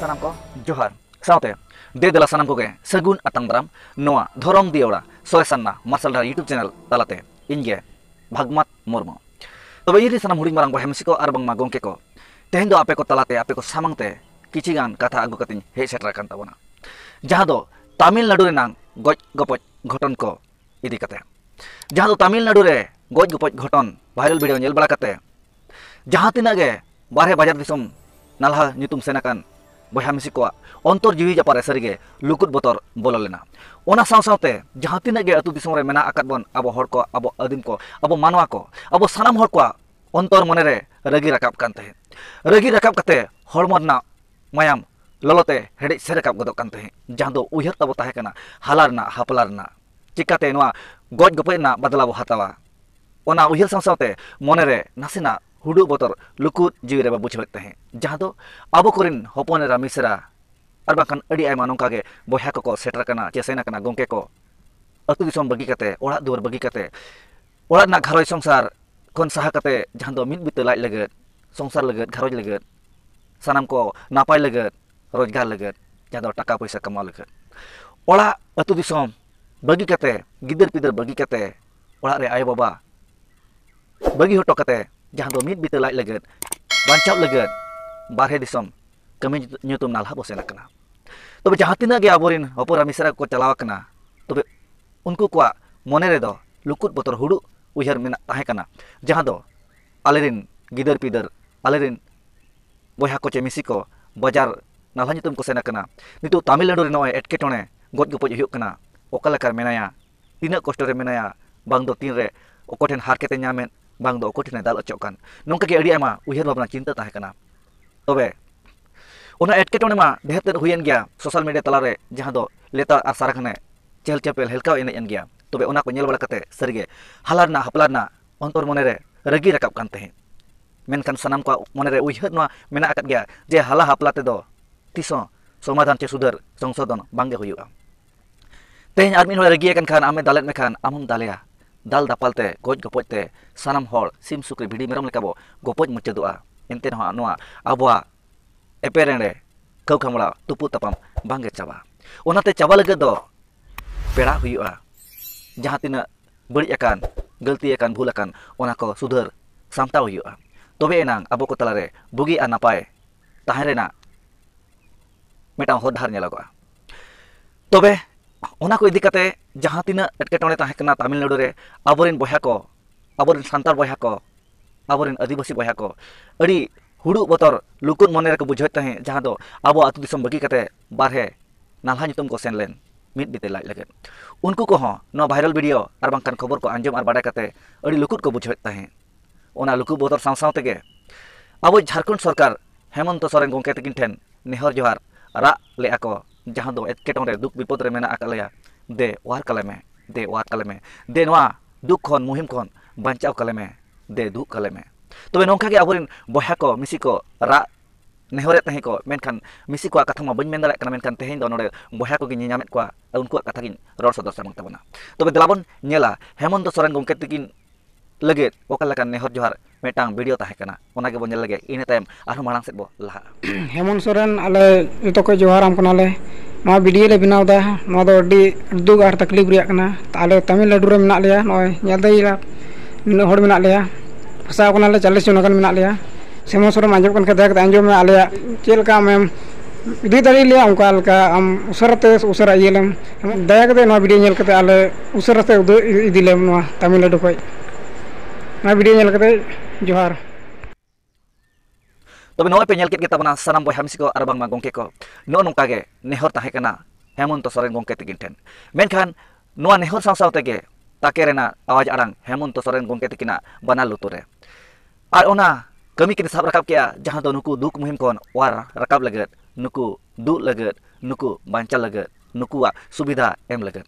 ᱥᱟᱱᱟᱢ ᱠᱚ ᱡᱚᱦᱟᱨ ᱥᱟᱶᱛᱮ ᱫᱮ ᱫᱮᱞᱟ ᱥᱟᱱᱟᱢ ᱠᱚᱜᱮ ᱥᱟᱹᱜᱩᱱ ᱟᱛᱟᱝ ᱫᱟᱨᱟᱢ ᱱᱚᱣᱟ ᱫᱷᱚᱨᱚᱢ ᱫᱤᱭᱚᱲᱟ ᱥᱚᱨᱮᱥᱟᱱᱱᱟ ᱢᱟᱨᱥᱟᱞ ᱰᱟᱦᱟᱨ ᱭᱩᱴᱩᱵᱽ ᱪᱮᱱᱮᱞ ᱛᱟᱞᱟᱛᱮ ᱤᱧᱜᱮ ᱵᱷᱟᱜᱽᱢᱟᱛ ᱢᱩᱨᱢᱩ ᱛᱚᱵᱮ ᱤᱧ ᱨᱮ ᱥᱟᱱᱟᱢ ᱦᱩᱰᱤᱧ ᱢᱟᱨᱟᱝ ᱵᱚᱭᱦᱟ ᱢᱤᱥᱤ ᱠᱚ ᱟᱨ ᱵᱟᱝᱢᱟ ᱜᱚᱢᱠᱮ ᱠᱚ ᱛᱮᱦᱮᱧ ᱫᱚ ᱟᱯᱮ ᱠᱚ ᱛᱟᱞᱟᱛᱮ ᱟᱯᱮ ᱠᱚ ᱥᱟᱢᱟᱝ ᱛᱮ ᱠᱤᱪᱷᱤ ᱜᱟᱱ ᱠᱟᱛᱷᱟ ᱟᱹᱜᱩ ᱠᱟᱛᱮᱧ ᱦᱮᱡ ᱥᱮᱴᱮᱨ ᱟᱠᱟᱱ ᱛᱟᱵᱚᱱᱟ ᱡᱟᱦᱟᱸ ᱫᱚ ᱛᱟᱢᱤᱞᱱᱟᱰᱩ ᱨᱮᱱᱟᱝ ᱜᱚᱡ ᱜᱚᱯᱚᱡ ᱜᱷᱚᱴᱚᱱ ᱠᱚ ᱤᱫᱤ ᱠᱟᱛᱮ ᱡᱟᱦᱟᱸ ᱫᱚ ᱛᱟᱢᱤᱞᱱᱟᱰᱩ ᱨᱮ ᱜᱚᱡ ᱜᱚᱯᱚᱡ ᱜᱷᱚᱴᱚᱱ ᱵᱷᱟᱭᱨᱟᱞ ᱵᱷᱤᱰᱤᱭᱳ ᱧᱮᱞ ᱵᱟᱲᱟ ᱠᱟᱛᱮ ᱡᱟᱦᱟᱸ ᱛᱤᱱᱟᱹᱜ ᱜᱮ ᱵᱟᱨᱦᱮ ᱵᱟᱡᱟᱨ ᱫᱤᱥᱚᱢ ᱱᱟᱞᱦᱟ ᱧᱩᱛᱩᱢ ᱥᱮᱱ ᱟᱠᱟᱱ ᱵᱚᱭᱦᱟ ᱢᱤᱥᱤ ᱠᱚᱣᱟᱜ ᱚᱱᱛᱚᱨ ᱡᱤᱣᱤ ᱡᱟᱯᱟᱨᱮ ᱥᱟᱹᱨᱤᱜᱮ ᱞᱩᱠᱩᱫ ᱵᱚᱛᱚᱨ ᱵᱚᱞᱚ ᱞᱮᱱᱟ ᱚᱱᱟ ᱥᱟᱶ ᱥᱟᱶᱛᱮ ᱡᱟᱦᱟᱸ ᱛᱤᱱᱟᱹᱜ ᱜᱮ ᱟᱹᱛᱩ ᱫᱤᱥᱚᱢ ᱨᱮ ᱢᱮᱱᱟᱜ ᱟᱠᱟᱫ ᱵᱚᱱ ᱟᱵᱚ ᱦᱚᱲ ᱠᱚ ᱟᱵᱚ ᱟᱹᱫᱤᱢ ᱠᱚ ᱟᱵᱚ ᱢᱟᱱᱣᱟ ᱠᱚ ᱟᱵᱚ ᱥᱟᱱᱟᱢ ᱦᱚᱲ ᱠᱚᱣᱟᱜ ᱚᱱᱛᱚᱨ ᱢᱚᱱᱮ ᱨᱮ ᱨᱟᱹᱜᱤ ᱨᱟᱠᱟᱵ ᱠᱟᱱ ᱛᱟᱦᱮᱸᱫ ᱨᱟᱹᱜᱤ ᱨᱟᱠᱟᱵ ᱠᱟᱛᱮ ᱦᱚᱲᱢᱚ ᱨᱮᱱᱟᱜ ᱢᱟᱭᱟᱢ ᱞᱚᱞᱚᱛᱮ ᱦᱮᱰᱮᱡ ᱥᱮ ᱨᱟᱠᱟᱵ ᱜᱚᱫᱚᱜ ᱠᱟᱱ ᱛᱟᱦᱮᱸᱫ ᱡᱟᱦᱟᱸ ᱫᱚ ᱩᱭᱦᱟᱹᱨ ᱛᱟᱵᱚ ᱛᱟᱦᱮᱸ ᱠᱟᱱᱟ ᱦᱟᱞᱟ ᱨᱮᱱᱟᱜ ᱦᱟᱯᱞᱟ ᱨᱮᱱᱟᱜ ᱪᱤᱠᱟᱛᱮ ᱱᱚᱣᱟ ᱜᱚᱡ ᱜᱚᱯᱚᱡ ᱨᱮᱱᱟᱜ ᱵᱟᱫᱞᱟ ᱵᱚ ᱦᱟᱛᱟᱣᱟ ᱚᱱᱟ ᱩᱭᱦᱟᱹᱨ ᱥᱟᱶ ᱥᱟᱶᱛᱮ ᱢᱚᱱᱮ ᱨᱮ ᱱᱟᱥᱮᱱᱟᱜ ᱦᱩᱰᱩ ᱵᱚᱛᱚᱨ ᱞᱩᱠᱩᱫ ᱡᱤᱣᱤ ᱨᱮ ᱵᱟ ᱵᱩᱡᱷᱟᱹᱣᱮᱫ ᱛᱟᱦᱮᱸᱫ ᱡᱟᱦᱟᱸ ᱫᱚ ᱟᱵᱚ ᱠᱚᱨᱮᱱ ᱦᱚᱯᱚᱱ ᱮᱨᱟ ᱢᱤᱥᱨᱟ ᱟᱨ ᱵᱟᱝᱠᱷᱟᱱ ᱟᱹᱰᱤ ᱟᱭᱢᱟ ᱱᱚᱝᱠᱟ ᱜᱮ ᱵᱚᱭᱦᱟ ᱠᱚᱠᱚ ᱥᱮᱴᱮᱨ ᱟᱠᱟᱱᱟ ᱪᱮ ᱥᱮᱱ ᱟᱠᱟᱱᱟ ᱜᱚᱝᱠᱮ ᱠᱚ ᱟᱹᱛᱩ ᱫᱤᱥᱚᱢ ᱵᱟᱹᱜᱤ ᱠᱟᱛᱮ ᱚᱲᱟᱜ ᱫᱩᱣᱟᱹᱨ ᱵᱟᱹᱜᱤ ᱠᱟᱛᱮ ᱚᱲᱟᱜ ᱨᱮᱱᱟᱜ ᱜᱷᱟᱨᱚᱸᱡᱽ ᱥᱚᱝᱥᱟᱨ ᱠᱷᱚᱱ ᱥᱟᱦᱟ ᱠᱟᱛᱮᱫ ᱡᱟᱦᱟᱸ ᱫᱚ ᱢᱤᱫ ᱵᱤᱛᱟᱹ ᱞᱟᱡ ᱞᱟᱹᱜᱤᱫ ᱥᱚᱝᱥᱟᱨ ᱞᱟᱹᱜᱤᱫ ᱜᱷᱟᱨᱚᱸᱡᱽ ᱞᱟᱹᱜᱤᱫ ᱥᱟᱱᱟᱢ ᱠᱚ ᱱᱟᱯᱟᱭ ᱞᱟᱹᱜᱤᱫ ᱨᱳᱡᱽᱜᱟᱨ ᱞᱟᱹᱜᱤᱫ ᱡᱟᱦᱟᱸ ᱫᱚ ᱴᱟᱠᱟ ᱯᱚᱭᱥᱟ ᱠᱟᱢᱟᱣ ᱞᱟᱹᱜᱤᱫ ᱚᱲᱟᱜ ᱟᱛᱳ ᱫᱤᱥᱚᱢ ᱵᱟᱹᱜᱤ ᱠᱟᱛᱮᱫ ᱜᱤᱫᱟᱹᱨ ᱯᱤᱫᱟᱹᱨ ᱵᱟᱹᱜᱤ ᱠᱟᱛᱮᱫ ᱚᱲᱟᱜ ᱨᱮ ᱟᱭᱳ ᱵᱟᱵᱟ ᱵᱟᱹᱜᱤ ᱦᱚᱴᱚ ᱠᱟᱛᱮᱫ ᱡᱟᱦᱟᱸ ᱫᱚ ᱢᱤᱫ ᱵᱤᱛᱟᱹ ᱞᱟᱡ ᱞᱟᱹᱜᱤᱫ ᱵᱟᱧᱪᱟᱜ ᱞᱟᱹᱜᱤᱫ ᱵᱟᱨᱦᱮ ᱫᱤᱥᱚᱢ ᱠᱟᱹᱢᱤ ᱧᱩᱛᱩᱢ ᱱᱟᱞᱦᱟ ᱵᱚᱱ ᱥᱮᱱ ᱟᱠᱟᱱᱟ ᱛᱚᱵᱮ ᱡᱟᱦᱟᱸ ᱛᱤᱱᱟᱹᱜ ᱜᱮ ᱟᱵᱚ ᱨᱮᱱ ᱦᱚᱯᱚᱱ ᱮᱨᱟ ᱢᱤᱥᱨᱟ ᱠᱚᱠᱚ ᱪᱟᱞᱟᱣ ᱟᱠᱟᱱᱟ ᱛᱚᱵᱮ ᱩᱱᱠᱩ ᱠᱚᱣᱟᱜ ᱢᱚᱱᱮ ᱨᱮ ᱫᱚ ᱞᱩᱠᱩᱫ ᱵᱚᱛᱚᱨ ᱦᱩᱲᱩ ᱩᱭᱦᱟᱹᱨ ᱢᱮᱱᱟᱜ ᱛᱟᱦᱮᱸ ᱠᱟᱱᱟ ᱡᱟᱦᱟᱸ ᱫᱚ ᱟᱞᱮ ᱨᱮᱱ ᱜᱤᱫᱟᱹᱨ ᱯᱤᱫᱟᱹᱨ ᱟᱞᱮ ᱨᱮᱱ ᱵᱚᱭᱦᱟ ᱠᱚ ᱪᱮ ᱢᱤᱥᱤ ᱠᱚ ᱵᱟᱡᱟᱨ ᱱᱟᱞᱦᱟ ᱧᱩᱛᱩᱢ ᱠᱚ ᱥᱮᱱ ᱟᱠᱟᱱᱟ ᱱᱤᱛᱚᱜ ᱛᱟᱢᱤᱞᱱᱟᱰᱩ ᱨᱮ ᱱᱚᱜᱼᱚᱭ ᱮᱴᱠᱮᱴᱚᱬᱮ ᱜᱚᱡ ᱜᱚᱯᱚᱡ ᱦᱩᱭᱩᱜ ᱠᱟᱱᱟ ᱚᱠᱟ ᱞᱮᱠᱟ ᱨᱮ ᱢᱮᱱᱟᱭᱟ ᱛᱤᱱᱟᱹᱜ ᱠᱚᱥᱴᱚ ᱨᱮ ᱢᱮᱱᱟᱭᱟ ᱵᱟᱝ ᱫᱚ ᱛᱤᱱ ᱨᱮ ᱚᱠᱚᱭ ᱴᱷᱮᱱ ᱦᱟᱨᱠᱮᱛ ᱮ ᱧᱟᱢᱮᱫ ᱵᱟᱝ ᱫᱚ ᱚᱠᱚᱭ ᱴᱷᱮᱱᱮ ᱫᱟᱞ ᱦᱚᱪᱚᱜ ᱠᱟᱱ ᱱᱚᱝᱠᱟ ᱜᱮ ᱟᱹᱰᱤ ᱟᱭᱢᱟ ᱩᱭᱦᱟᱹᱨ ᱵᱷᱟᱵᱽᱱᱟ ᱪᱤᱱᱛᱟᱹ ᱛᱟᱦᱮᱸ ᱠᱟᱱᱟ ᱛᱚᱵᱮ ᱚᱱᱟ ᱮᱴᱠᱮᱴᱚᱬᱮ ᱢᱟ ᱰᱷᱮᱨ ᱛᱮᱫ ᱦᱩᱭᱮᱱ ᱜᱮᱭᱟ ᱥᱳᱥᱟᱞ ᱢᱤᱰᱤᱭᱟ ᱛᱟᱞᱟᱨᱮ ᱡᱟᱦᱟᱸ ᱫᱚ ᱞᱮᱛᱟᱲ ᱟᱨ ᱥᱟᱨᱟᱜᱷᱟᱱᱮ ᱪᱮᱦᱮᱞ ᱪᱮᱯᱮᱞ ᱦᱮᱞᱠᱟᱣ ᱮᱱᱮᱡ ᱮᱱ ᱜᱮᱭᱟ ᱛᱚᱵᱮ ᱚᱱᱟ ᱠᱚ ᱧᱮᱞ ᱵᱟᱲᱟ ᱠᱟᱛᱮ ᱥᱟᱹᱨᱤᱜᱮ ᱦᱟᱞᱟ ᱨᱮᱱᱟᱜ ᱦᱟᱯᱞᱟ ᱨᱮᱱᱟᱜ ᱚᱱᱛᱚᱨ ᱢᱚᱱᱮ ᱨᱮ ᱨᱟᱹᱜᱤ ᱨᱟᱠᱟᱵ ᱠᱟᱱ ᱛᱟᱦᱮᱸᱫ ᱢᱮᱱᱠᱷᱟᱱ ᱥᱟᱱᱟᱢ ᱠᱚᱣᱟᱜ ᱢᱚᱱᱮ ᱨᱮ ᱩᱭᱦᱟᱹᱨ ᱱᱚᱣᱟ ᱢᱮᱱᱟᱜ ᱟᱠᱟᱫ ᱜᱮᱭᱟ ᱡᱮ ᱦᱟᱞᱟ ᱦᱟᱯᱞᱟ ᱛᱮᱫᱚ ᱛᱤᱥ ᱦᱚᱸ ᱥᱚᱢᱟᱫᱷᱟᱱ ᱪᱮ ᱥᱩᱫᱷᱟᱹᱨ ᱥᱚᱝᱥᱳᱫᱷᱚᱱ ᱵᱟᱝᱜᱮ ᱦᱩᱭᱩᱜᱼᱟ ᱛᱮᱦᱮᱧ ᱟᱨ ᱢᱤᱫ ᱦᱚᱲ ᱨᱟᱹᱜᱤ ᱟᱠᱟᱱ ᱠᱷᱟᱱ ᱟᱢᱮ ᱫᱟᱞᱮᱫ ᱢᱮ ᱠᱷᱟᱱ ᱟᱢ ᱦᱚᱢ ᱫᱟᱞᱮᱭᱟ ᱫᱟᱞ ᱫᱟᱯᱟᱞ ᱛᱮ ᱜᱚᱡ ᱜᱚᱯᱚᱡ ᱛᱮ ᱥᱟᱱᱟᱢ ᱦᱚᱲ ᱥᱤᱢ ᱥᱩᱠᱨᱤ ᱵᱷᱤᱰᱤ ᱢᱮᱨᱚᱢ ᱞᱮᱠᱟ ᱵᱚ ᱜᱚᱯᱚᱡ ᱢᱩᱪᱟᱹᱫᱚᱜᱼᱟ ᱮᱱᱛᱮ ᱨᱮᱦᱚᱸ ᱱᱚᱣᱟ ᱟᱵᱚᱣᱟᱜ ᱮᱯᱮᱨᱮᱸᱰᱮ ᱠᱟᱹᱣ ᱠᱷᱟᱢᱲᱟ ᱛᱩᱯᱩ ᱛᱟᱯᱟᱢ ᱵᱟᱝᱜᱮ ᱪᱟᱵᱟᱜᱼᱟ ᱚᱱᱟᱛᱮ ᱪᱟᱵᱟ ᱞᱟᱹᱜᱤᱫ ᱫᱚ ᱯᱮᱲᱟ ᱦᱩᱭᱩᱜᱼᱟ ᱡᱟᱦᱟᱸ ᱛᱤᱱᱟᱹᱜ ᱵᱟᱹᱲᱤᱡ ᱟᱠᱟᱱ ᱜᱟᱹᱞᱛᱤ ᱟᱠᱟᱱ ᱵᱷᱩᱞ ᱟᱠᱟᱱ ᱚᱱᱟ ᱠᱚ ᱥᱩᱫᱷᱟᱹᱨ ᱥᱟᱢᱴᱟᱣ ᱦᱩᱭᱩᱜᱼᱟ ᱛᱚᱵᱮ ᱮᱱᱟᱝ ᱟᱵᱚ ᱠᱚ ᱛᱟᱞᱟᱨᱮ ᱵᱩᱜᱤ ᱟᱨ ᱱᱟᱯᱟᱭ ᱛᱟᱦᱮᱸ ᱨᱮᱱᱟᱜ ᱢᱤᱫᱴᱟᱝ ᱦᱚᱨ ᱰᱟᱦᱟᱨ ᱧᱮᱞᱚᱜᱚᱜᱼᱟ ᱛᱚᱵᱮ ᱚᱱᱟ ᱠᱚ ᱤᱫᱤ ᱠᱟᱛᱮ ᱡᱟᱦᱟᱸ ᱛᱤᱱᱟᱹᱜ ᱮᱴᱠᱮᱴᱚᱬᱮ ᱛᱟᱦᱮᱸ ᱠᱟᱱᱟ ᱛᱟᱢᱤᱞᱱᱟᱲᱩ ᱨᱮ ᱟᱵᱚᱨᱮᱱ ᱵᱚᱭᱦᱟ ᱠᱚ ᱟᱵᱚᱨᱮᱱ ᱥᱟᱱᱛᱟᱲ ᱵᱚᱭᱦᱟ ᱠᱚ ᱟᱵᱚᱨᱮᱱ ᱟᱹᱫᱤᱵᱟᱹᱥᱤ ᱵᱚᱭᱦᱟ ᱠᱚ ᱟᱹᱰᱤ ᱦᱩᱲᱩᱜ ᱵᱚᱛᱚᱨ ᱞᱩᱠᱩᱜ ᱢᱚᱱᱮ ᱨᱮᱠᱚ ᱵᱩᱡᱷᱟᱹᱣᱮᱫ ᱛᱟᱦᱮᱸᱫ ᱡᱟᱦᱟᱸ ᱫᱚ ᱟᱵᱚ ᱟᱛᱳ ᱫᱤᱥᱚᱢ ᱵᱟᱹᱜᱤ ᱠᱟᱛᱮ ᱵᱟᱨᱦᱮ ᱱᱟᱞᱦᱟ ᱧᱩᱛᱩᱢ ᱠᱚ ᱥᱮᱱ ᱞᱮᱱ ᱢᱤᱫ ᱵᱤᱛᱟᱹ ᱞᱟᱡ ᱞᱟᱹᱜᱤᱫ ᱩᱱᱠᱩ ᱠᱚᱦᱚᱸ ᱱᱚᱣᱟ ᱵᱷᱟᱭᱨᱟᱞ ᱵᱷᱤᱰᱤᱭᱳ ᱟᱨ ᱵᱟᱝᱠᱷᱟᱱ ᱠᱷᱚᱵᱚᱨ ᱠᱚ ᱟᱸᱡᱚᱢ ᱟᱨ ᱵᱟᱰᱟᱭ ᱠᱟᱛᱮ ᱟᱹᱰᱤ ᱞᱩᱠᱩᱜ ᱠᱚ ᱵᱩᱡᱷᱟᱹᱣᱮᱫ ᱛᱟᱦᱮᱸᱫ ᱚᱱᱟ ᱞᱩᱠᱩ ᱵᱚᱫᱚᱨ ᱥᱟᱶ ᱥᱟᱶ ᱛᱮᱜᱮ ᱟᱵᱚ ᱡᱷᱟᱨᱠᱷᱚᱸᱰ ᱥᱚᱨᱠᱟᱨ ᱦᱮᱢᱚᱱᱛᱚ ᱥᱚᱨᱮᱱ ᱜᱚᱢᱠᱮ ᱛᱟᱹᱠᱤᱱ ᱴᱷᱮᱱ ᱱᱮᱦᱚᱨ ᱡᱚᱦᱟᱨ ᱨᱟᱜ ᱞᱮᱜᱼᱟ ᱠᱚ ᱡᱟᱦᱟᱸ ᱫᱚ ᱮᱴᱠᱮᱴᱚᱬᱮ ᱫᱩᱠ ᱵᱤᱯᱚᱫ ᱨᱮ ᱢᱮᱱᱟᱜ ᱟᱠᱟᱫ ᱞᱮᱭᱟ ᱫᱮ ᱚᱣᱟᱨ ᱠᱟᱞᱮ ᱢᱮ ᱫᱮ ᱚᱣᱟᱨ ᱠᱟᱞᱮ ᱢᱮ ᱫᱮ ᱱᱚᱣᱟ ᱫᱩᱠ ᱠᱷᱚᱱ ᱢᱩᱦᱤᱢ ᱠᱷᱚᱱ ᱵᱟᱧᱪᱟᱣ ᱠᱟᱞᱮ ᱢᱮ ᱫᱮ ᱫᱩᱜ ᱠᱟᱞᱮ ᱢᱮ ᱛᱚᱵᱮ ᱱᱚᱝᱠᱟ ᱜᱮ ᱟᱵᱚᱨᱮᱱ ᱵᱚᱭᱦᱟ ᱠᱚ ᱢᱤᱥᱤ ᱠᱚ ᱨᱟᱜ ᱱᱮᱦᱚᱨᱮᱫ ᱛᱟᱦᱮᱸ ᱠᱚ ᱢᱮᱱᱠᱷᱟᱱ ᱢᱤᱥᱤ ᱠᱚᱣᱟᱜ ᱠᱟᱛᱷᱟ ᱢᱟ ᱵᱟᱹᱧ ᱢᱮᱱ ᱫᱟᱲᱮᱭᱟᱜ ᱠᱟᱱᱟ ᱢᱮᱱᱠᱷᱟᱱ ᱛᱮᱦᱮᱧ ᱫᱚ ᱱᱚᱰᱮ ᱵᱚᱭᱦᱟ ᱠᱚᱜᱮ ᱧᱮᱧᱟᱢᱮᱫ ᱠᱚᱣᱟ ᱩᱱᱠᱩᱣᱟᱜ ᱠᱟᱛᱷᱟ ᱜᱤᱧ ᱨᱚᱲ ᱥᱚᱫᱚᱨ ᱥᱟᱢᱟᱝ ᱛᱟᱵᱚᱱᱟ ᱛᱚᱵᱮ ᱫᱮᱞᱟ ᱵᱚᱱ ᱧᱮᱞᱟ ᱦᱮᱢᱚᱱᱛᱚ ᱥᱚᱨᱮᱱ ᱜᱚᱢᱠᱮ ᱛᱟᱹᱠᱤᱱ ᱞᱟᱹᱜᱤᱫ ᱚᱠᱟ ᱞᱮᱠᱟᱱ ᱱᱮᱦᱚᱨ ᱡᱚᱦᱟᱨ ᱢᱤᱫᱴᱟᱝ ᱵᱷᱤᱰᱤᱭᱳ ᱛᱟᱦᱮᱸ ᱠᱟᱱᱟ ᱚᱱᱟ ᱜᱮᱵᱚᱱ ᱧᱮᱞ ᱞᱮᱜᱮ ᱤᱱᱟᱹ ᱛᱟᱭᱚᱢ ᱟᱨᱦᱚᱸ ᱢᱟᱲᱟᱝ ᱥᱮᱫ ᱵᱚ ᱞᱟᱦᱟᱜᱼᱟ ᱦᱮᱢᱚᱱ ᱥᱚᱨᱮᱱ ᱟᱞᱮ ᱡᱚᱛᱚ ᱠᱚ ᱡᱚᱦᱟᱨᱟᱢ ᱠᱟᱱᱟᱞᱮ ᱱᱚᱣᱟ ᱵᱷᱤᱰᱤᱭᱳ ᱞᱮ ᱵᱮᱱᱟᱣ ᱮᱫᱟ ᱱᱚᱣᱟ ᱫᱚ ᱟᱹᱰᱤ ᱫᱩᱠ ᱟᱨ ᱛᱟᱠᱞᱤᱯᱷ ᱨᱮᱭᱟᱜ ᱠᱟᱱᱟ ᱟᱞᱮ ᱛᱟᱹᱢᱤᱞᱱᱟᱹᱰᱩ ᱨᱮ ᱢᱮᱱᱟᱜ ᱞᱮᱭᱟ ᱱᱚᱜᱼᱚᱭ ᱧᱮᱞ ᱫᱟᱲᱮᱭᱟᱜᱼᱟ ᱱᱩᱱᱟᱹᱜ ᱦᱚᱲ ᱢᱮᱱᱟᱜ ᱞᱮᱭᱟ ᱯᱷᱟᱥᱟᱣ ᱠᱟᱱᱟᱞᱮ ᱪᱚᱞᱞᱤᱥ ᱡᱚᱱ ᱜᱟᱱ ᱢᱮᱱᱟᱜ ᱞᱮᱭᱟ ᱦᱮᱢᱚᱱ ᱥᱚᱨᱮᱱ ᱟᱸᱡᱚᱢ ᱠᱟᱱ ᱠᱷᱟᱱ ᱫᱟᱭᱟ ᱠᱟᱛᱮᱫ ᱟᱸᱡᱚᱢ ᱢᱮ ᱟᱞᱮᱭᱟᱜ ᱪᱮᱫ ᱞᱮᱠᱟ ᱟᱢᱮᱢ ᱤᱫᱤ ᱫᱟᱲᱮᱭᱟᱞᱮᱭᱟ ᱚᱱᱠᱟ ᱞᱮᱠᱟ ᱟᱢ ᱩᱥᱟᱹᱨᱟ ᱛᱮ ᱩᱥᱟᱹᱨᱟ ᱤᱭᱟᱹ ᱞᱮᱢ ᱫᱟᱭᱟ ᱠᱟᱛᱮᱫ ᱱᱚᱣᱟ ᱵᱷᱤᱰᱤᱭᱳ ᱧᱮᱞ ᱠᱟᱛᱮᱫ ᱟᱞᱮ ᱩᱥᱟᱹᱨᱟ ᱛᱮ ᱩᱫᱟᱹᱨ ᱤᱫᱤ ᱞᱮᱢ ᱱᱚᱣᱟ ᱛᱟᱹᱢᱤᱞᱱᱟᱹᱰᱩ ᱠᱷᱚᱡ ᱱᱚᱣᱟ ᱵᱷᱤᱰᱭᱳ ᱧᱮᱞ ᱠᱟᱛᱮ ᱡᱚᱦᱟᱨ ᱛᱚᱵᱮ ᱱᱚᱜᱼᱚᱭ ᱯᱮ ᱧᱮᱞ ᱠᱮᱫ ᱜᱮ ᱛᱟᱵᱚᱱᱟ ᱥᱟᱱᱟᱢ ᱵᱚᱭᱦᱟ ᱢᱤᱥᱤ ᱠᱚ ᱟᱨ ᱵᱟᱝᱢᱟ ᱜᱚᱝᱠᱮ ᱠᱚ ᱱᱚᱜᱼᱚ ᱱᱚᱝᱠᱟ ᱜᱮ ᱱᱮᱦᱚᱨ ᱛᱟᱦᱮᱸ ᱠᱟᱱᱟ ᱦᱮᱢᱚᱱᱛᱚ ᱥᱚᱨᱮᱱ ᱜᱚᱝᱠᱮ ᱛᱤᱠᱤᱱ ᱴᱷᱮᱱ ᱢᱮᱱᱠᱷᱟᱱ ᱱᱚᱣᱟ ᱱᱮᱦᱚᱨ ᱥᱟᱶ ᱥᱟᱶ ᱛᱮᱜᱮ ᱛᱟᱠᱮ ᱨᱮᱱᱟᱜ ᱟᱣᱟᱡᱽ ᱟᱲᱟᱝ ᱦᱮᱢᱚᱱᱛᱚ ᱥᱚᱨᱮᱱ ᱜᱚᱝᱠᱮ ᱛᱤᱠᱤᱱᱟᱜ ᱵᱟᱱᱟᱨ ᱞᱩᱛᱩᱨ ᱨᱮ ᱟᱨ ᱚᱱᱟ ᱠᱟᱹᱢᱤ ᱠᱤᱱ ᱥᱟᱵ ᱨᱟᱠᱟᱵ ᱠᱮᱜᱼᱟ ᱡᱟᱦᱟᱸ ᱫᱚ ᱱᱩᱠᱩ ᱫᱩᱠ ᱢᱩᱦᱤᱢ ᱠᱷᱚᱱ ᱚᱣᱟᱨ ᱨᱟᱠᱟᱵ ᱞᱟᱹᱜᱤᱫ ᱱᱩᱠᱩ ᱫᱩᱜ ᱞᱟᱹᱜᱤᱫ ᱱᱩᱠᱩ ᱵᱟᱧᱪᱟᱣ ᱞᱟᱹᱜᱤᱫ ᱱᱩᱠᱩᱣᱟᱜ ᱥᱩᱵᱤᱫᱷᱟ ᱮᱢ ᱞᱟᱹᱜᱤᱫ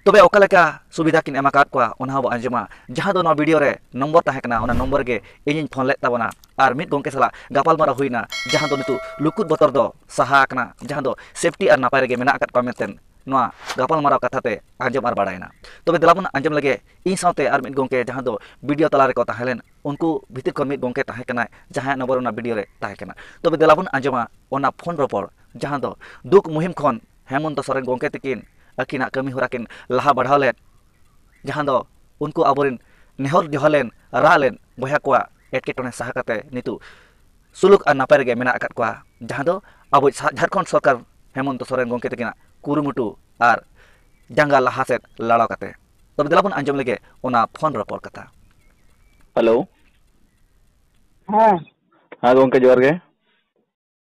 ᱛᱚᱵᱮ ᱚᱠᱟ ᱞᱮᱠᱟ ᱥᱩᱵᱤᱫᱷᱟ ᱠᱤᱱ ᱮᱢ ᱟᱠᱟᱫ ᱠᱚᱣᱟ ᱚᱱᱟ ᱦᱚᱸ ᱵᱚ ᱟᱸᱡᱚᱢᱟ ᱡᱟᱦᱟᱸ ᱫᱚ ᱱᱚᱣᱟ ᱵᱷᱤᱰᱤᱭᱳ ᱨᱮ ᱱᱚᱢᱵᱚᱨ ᱛᱟᱦᱮᱸ ᱠᱟᱱᱟ ᱚᱱᱟ ᱱᱚᱢᱵᱚᱨ ᱜᱮ ᱤᱧᱤᱧ ᱯᱷᱳᱱ ᱞᱮᱫ ᱛᱟᱵᱚᱱᱟ ᱟᱨ ᱢᱤᱫ ᱜᱚᱢᱠᱮ ᱥᱟᱞᱟᱜ ᱜᱟᱯᱟᱞᱢᱟᱨᱟᱣ ᱦᱩᱭᱱᱟ ᱡᱟᱦᱟᱸ ᱫᱚ ᱱᱤᱛᱚᱜ ᱞᱩᱠᱩᱫ ᱵᱚᱛᱚᱨ ᱫᱚ ᱥᱟᱦᱟ ᱟᱠᱟᱱᱟ ᱡᱟᱦᱟᱸ ᱫᱚ ᱥᱮᱯᱴᱤ ᱟᱨ ᱱᱟᱯᱟᱭ ᱨᱮᱜᱮ ᱢᱮᱱᱟᱜ ᱟᱠᱟᱫ ᱠᱚᱣᱟ ᱢᱮᱱᱛᱮ ᱱᱚᱣᱟ ᱜᱟᱯᱟᱞᱢᱟᱨᱟᱣ ᱠᱟᱛᱷᱟ ᱛᱮ ᱟᱸᱡᱚᱢ ᱟᱨ ᱵᱟᱲᱟᱭᱮᱱᱟ ᱛᱚᱵᱮ ᱫᱮᱞᱟ ᱵᱚᱱ ᱟᱸᱡᱚᱢ ᱞᱮᱜᱮ ᱤᱧ ᱥᱟᱶᱛᱮ ᱟᱨ ᱢᱤᱫ ᱜᱚᱢᱠᱮ ᱡᱟᱦᱟᱸ ᱫᱚ ᱵᱷᱤᱰᱤᱭᱳ ᱛᱟᱞᱟ ᱨᱮᱠᱚ ᱛᱟᱦᱮᱸ ᱞᱮᱱ ᱩᱱᱠᱩ ᱵᱷᱤᱛᱤᱨ ᱠᱷᱚᱱ ᱢᱤᱫ ᱜᱚᱢᱠᱮ ᱛᱟᱦᱮᱸ ᱠᱟᱱᱟᱭ ᱡᱟᱦᱟᱸᱭᱟᱜ ᱱᱚᱢᱵᱚᱨ ᱚᱱᱟ ᱵᱷᱤᱰᱤᱭᱳ ᱨᱮ ᱛᱟᱦᱮᱸ ᱠᱟᱱᱟ ᱛᱚᱵᱮ ᱫᱮᱞᱟ ᱵᱚᱱ ᱟᱸᱡᱚᱢᱟ ᱚᱱᱟ ᱯᱷᱳᱱ ᱨᱚᱯᱚᱲ ᱡᱟᱦᱟᱸ ᱫᱚ ᱫᱩᱠ ᱢᱩᱦᱤᱢ ᱠᱷᱚᱱ ᱦᱮᱢᱚᱱᱛᱚ ᱥᱚᱨᱮᱱ ᱜᱚᱢᱠᱮ ᱛᱟᱹᱠᱤᱱ ᱟᱹᱠᱤᱱᱟᱜ ᱠᱟᱹᱢᱤ ᱦᱚᱨᱟ ᱠᱤᱱ ᱞᱟᱦᱟ ᱵᱟᱲᱦᱟᱣ ᱞᱮᱫ ᱡᱟᱦᱟᱸ ᱫᱚ ᱩᱱᱠᱩ ᱟᱵᱚ ᱨᱮᱱ ᱱᱮᱦᱚᱨ ᱡᱚᱦᱟᱨ ᱞᱮᱱ ᱨᱟᱜ ᱞᱮᱱ ᱵᱚᱭᱦᱟ ᱠᱚᱣᱟᱜ ᱮᱴᱠᱮᱴᱚᱬᱮ ᱥᱟᱦᱟ ᱠᱟᱛᱮᱫ ᱱᱤᱛᱚᱜ ᱥᱩᱞᱩᱠ ᱟᱨ ᱱᱟᱯᱟᱭ ᱨᱮᱜᱮ ᱢᱮᱱᱟᱜ ᱟᱠᱟᱫ ᱠᱚᱣᱟ ᱡᱟᱦᱟᱸ ᱫᱚ ᱟᱵᱚᱭᱤᱡ ᱡᱷᱟᱲᱠᱷᱚᱸᱰ ᱥᱚᱨᱠᱟᱨ ᱦᱮᱢᱚᱱᱛᱚ ᱥᱚᱨᱮᱱ ᱜᱚᱢᱠᱮ ᱛᱟᱹᱠᱤᱱᱟᱜ ᱠᱩᱨᱩᱢᱩᱴᱩ ᱟᱨ ᱡᱟᱸᱜᱟ ᱞᱟᱦᱟ ᱥᱮᱫ ᱞᱟᱲᱟᱣ ᱠᱟᱛᱮᱫ ᱛᱚᱵᱮ ᱫᱮᱞᱟ ᱵᱚᱱ ᱟᱸᱡᱚᱢ ᱞᱮᱜᱮ ᱚᱱᱟ ᱯᱷᱳᱱ ᱨᱚᱯᱚᱲ ᱠᱟᱛᱷᱟ ᱦᱮᱞᱳ ᱦᱮᱸ ᱦᱮᱸ ᱜᱚᱢᱠᱮ ᱡᱚᱦᱟᱨ ᱜᱮ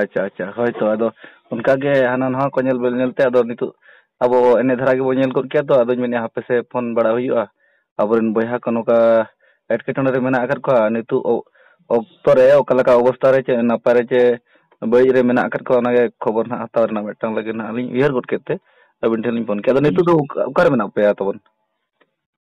ᱟᱪᱪᱷᱟ ᱟᱪᱪᱷᱟ ᱦᱳᱭ ᱛᱚ ᱟᱫᱚ ᱚᱱᱠᱟ ᱜᱮ ᱦᱟᱱᱟ ᱱᱟᱣᱟ ᱠᱚ ᱧᱮᱞ ᱵᱮᱞ ᱧᱮᱞ ᱛᱮ ᱟᱫᱚ ᱱᱤᱛᱚᱜ ᱟᱵᱚ ᱮᱱᱮ ᱫᱷᱟᱨᱟ ᱜᱮᱵᱚ ᱧᱮᱞ ᱜᱚᱫ ᱠᱮᱭᱟ ᱛᱚ ᱟᱫᱚᱧ ᱢᱮᱱᱮᱫᱼᱟ ᱦᱟᱯᱮ ᱥᱮ ᱯᱷᱳᱱ ᱵᱟᱲᱟ ᱦᱩᱭᱩᱜᱼᱟ ᱟᱵᱚ ᱨᱮᱱ ᱵᱚᱭᱦᱟ ᱠᱚ ᱱᱚᱝᱠᱟ ᱮᱴᱠᱮᱴᱚᱬᱮ ᱨᱮ ᱢᱮᱱᱟᱜ ᱟᱠᱟᱫ ᱠᱚᱣᱟ ᱱᱤᱛᱚᱜ ᱚᱠᱛᱚ ᱨᱮ ᱚᱠᱟ ᱞᱮᱠᱟ ᱚᱵᱚᱥᱛᱟ ᱨᱮ ᱪᱮᱫ ᱱᱟᱯᱟᱭ ᱨᱮ ᱪᱮ ᱵᱟᱹᱲᱤᱡ ᱨᱮ ᱢᱮᱱᱟᱜ ᱟᱠᱟᱫ ᱠᱚᱣᱟ ᱚᱱᱟ ᱜᱮ ᱠᱷᱚᱵᱚᱨ ᱱᱟᱦᱟᱜ ᱦᱟᱛᱟᱣ ᱨᱮᱱᱟᱜ ᱢᱤᱫᱴᱟᱝ ᱞᱟᱹᱜᱤᱫ ᱱᱟᱦᱟᱜ ᱞᱤᱧ ᱩᱭᱦᱟᱹᱨ ᱜᱚᱫ ᱠᱮᱫ ᱛᱮ ᱟᱹᱵᱤᱱ ᱴᱷᱮᱱ ᱞᱤᱧ ᱯᱷᱳᱱ ᱠᱮᱫᱼᱟ ᱟᱫᱚ ᱱᱤᱛᱚᱜ ᱫᱚ ᱚᱠᱟ ᱨᱮ ᱢᱮᱱᱟᱜ ᱯᱮᱭᱟ ᱛᱟᱵᱚᱱ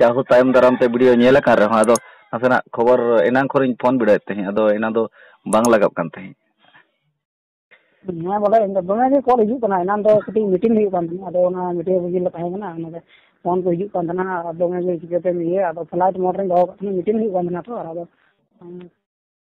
ᱡᱟᱦᱳ ᱛᱟᱭᱚᱢ ᱫᱟᱨᱟᱢ ᱛᱮ ᱵᱷᱤᱰᱤᱭᱳ ᱧᱮᱞ ᱟᱠᱟᱱ ᱨᱮᱦᱚᱸ ᱟᱫᱚ ᱱᱟᱥᱮᱱᱟᱜ ᱠᱷᱚᱵᱚᱨ ᱮᱱᱟᱝ ᱠᱷᱚᱱᱤᱧ ᱯᱷᱳᱱ ᱵᱤᱰᱟᱹᱣᱮᱫ ᱛᱟᱦᱮᱸᱫ ᱟᱫᱚ ᱮᱱᱟᱝ ᱫᱚ ᱵᱟᱝ ᱞᱟᱜᱟᱣ ᱠᱟᱱ ᱛᱟᱦᱮᱸᱫ ᱦᱮᱸ ᱵᱚᱞᱮ ᱤᱧ ᱫᱚ ᱫᱚᱢᱮ ᱜᱮ ᱠᱚᱞ ᱦᱤᱡᱩᱜ ᱠᱟᱱᱟ ᱮᱱᱟᱝ ᱫᱚ ᱠᱟᱹᱴᱤᱡ ᱢᱤᱴᱤᱝ ᱦᱩᱭᱩᱜ ᱠᱟᱱ ᱛᱟᱦᱮᱸᱫ ᱟᱫᱚ ᱚᱱᱟ ᱢᱤᱴᱤᱝ ᱨᱮᱜᱮ ᱞᱮ ᱛᱟᱦᱮᱸ ᱠᱟᱱᱟ ᱚᱱᱟᱛᱮ ᱯᱷᱳᱱ ᱠᱚ ᱦᱤᱡᱩᱜ ᱠᱟᱱ ᱛᱟᱦᱮᱱᱟ ᱟᱨ ᱫᱚᱢᱮ ᱜᱮ ᱪᱤᱠᱟᱹᱛᱮᱢ ᱤᱭᱟᱹᱭᱟ ᱟᱫᱚ ᱯᱷᱞᱟᱭᱤᱴ ᱢᱳᱰ ᱨᱤᱧ ᱫᱚᱦᱚ ᱠᱟᱜ ᱛᱟᱦᱮᱱᱟ ᱢᱤᱴᱤᱝ ᱦᱩᱭᱩᱜ ᱠᱟᱱ ᱛᱟᱦᱮᱱᱟ ᱛᱚ ᱟᱫᱚ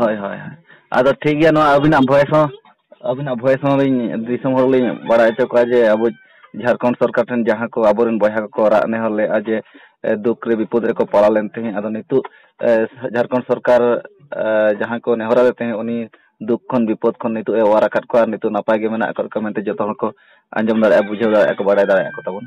ᱦᱳᱭ ᱦᱳᱭ ᱟᱫᱚ ᱴᱷᱤᱠ ᱜᱮᱭᱟ ᱱᱚᱣᱟ ᱟᱹᱵᱤᱱᱟᱜ ᱵᱷᱚᱭᱮᱥ ᱦᱚᱸ ᱟᱹᱵᱤᱱᱟᱜ ᱵᱷᱚᱭᱮᱥ ᱦᱚᱸ ᱞᱤᱧ ᱫᱤᱥᱚᱢ ᱦᱚᱲ ᱞᱤᱧ ᱵᱟᱲᱟᱭ ᱦᱚᱪᱚ ᱠᱚᱣᱟ ᱡᱮ ᱟᱵᱚ ᱡᱷᱟᱲᱠᱷᱚᱸᱰ ᱥᱚᱨᱠᱟᱨ ᱴᱷᱮᱱ ᱡᱟᱦᱟᱸ ᱠᱚ ᱟᱵᱚᱨᱮᱱ ᱵᱚᱭᱦᱟ ᱠᱚᱠᱚ ᱨᱟᱜ ᱱᱮᱦᱚᱨ ᱞᱮᱫᱼᱟ ᱡᱮ ᱫᱩᱠ ᱨᱮ ᱵᱤᱯᱚᱫ ᱨᱮᱠᱚ ᱯᱟᱲᱟᱣ ᱞᱮᱱ ᱛᱟᱦᱮᱸᱫ ᱟᱫᱚ ᱱᱤᱛᱚᱜ ᱡᱷᱟᱲᱠᱷᱚᱸᱰ ᱥᱚᱨᱠᱟᱨ ᱡᱟᱦᱟᱸ ᱠᱚ ᱱᱮᱦᱚᱨ ᱟᱫᱮ ᱛᱟᱦᱮᱸᱫ ᱩᱱᱤ ᱫᱩᱠ ᱠᱷᱚᱱ ᱵᱤᱯᱚᱫ ᱠᱷᱚᱱ ᱱᱤᱛᱚᱜ ᱮ ᱚᱣᱟᱨ ᱟᱠᱟᱫ ᱠᱚᱣᱟ ᱱᱤᱛᱚᱜ ᱱᱟᱯᱟᱭ ᱜᱮ ᱢᱮᱱᱟᱜ ᱟᱠᱟᱫ ᱠᱚᱣᱟ ᱢᱮᱱᱛᱮ ᱡᱚᱛᱚ ᱦᱚᱲ ᱠᱚ ᱟᱸᱡᱚᱢ ᱫᱟᱲᱮᱭᱟᱜᱼᱟ ᱵᱩᱡᱷᱟᱹᱣ ᱫᱟᱲᱮᱭᱟᱜᱼᱟ ᱠᱚ ᱵᱟᱲᱟᱭ ᱫᱟᱲᱮᱭᱟᱜᱼᱟ ᱠᱚ ᱛᱟᱵᱚᱱ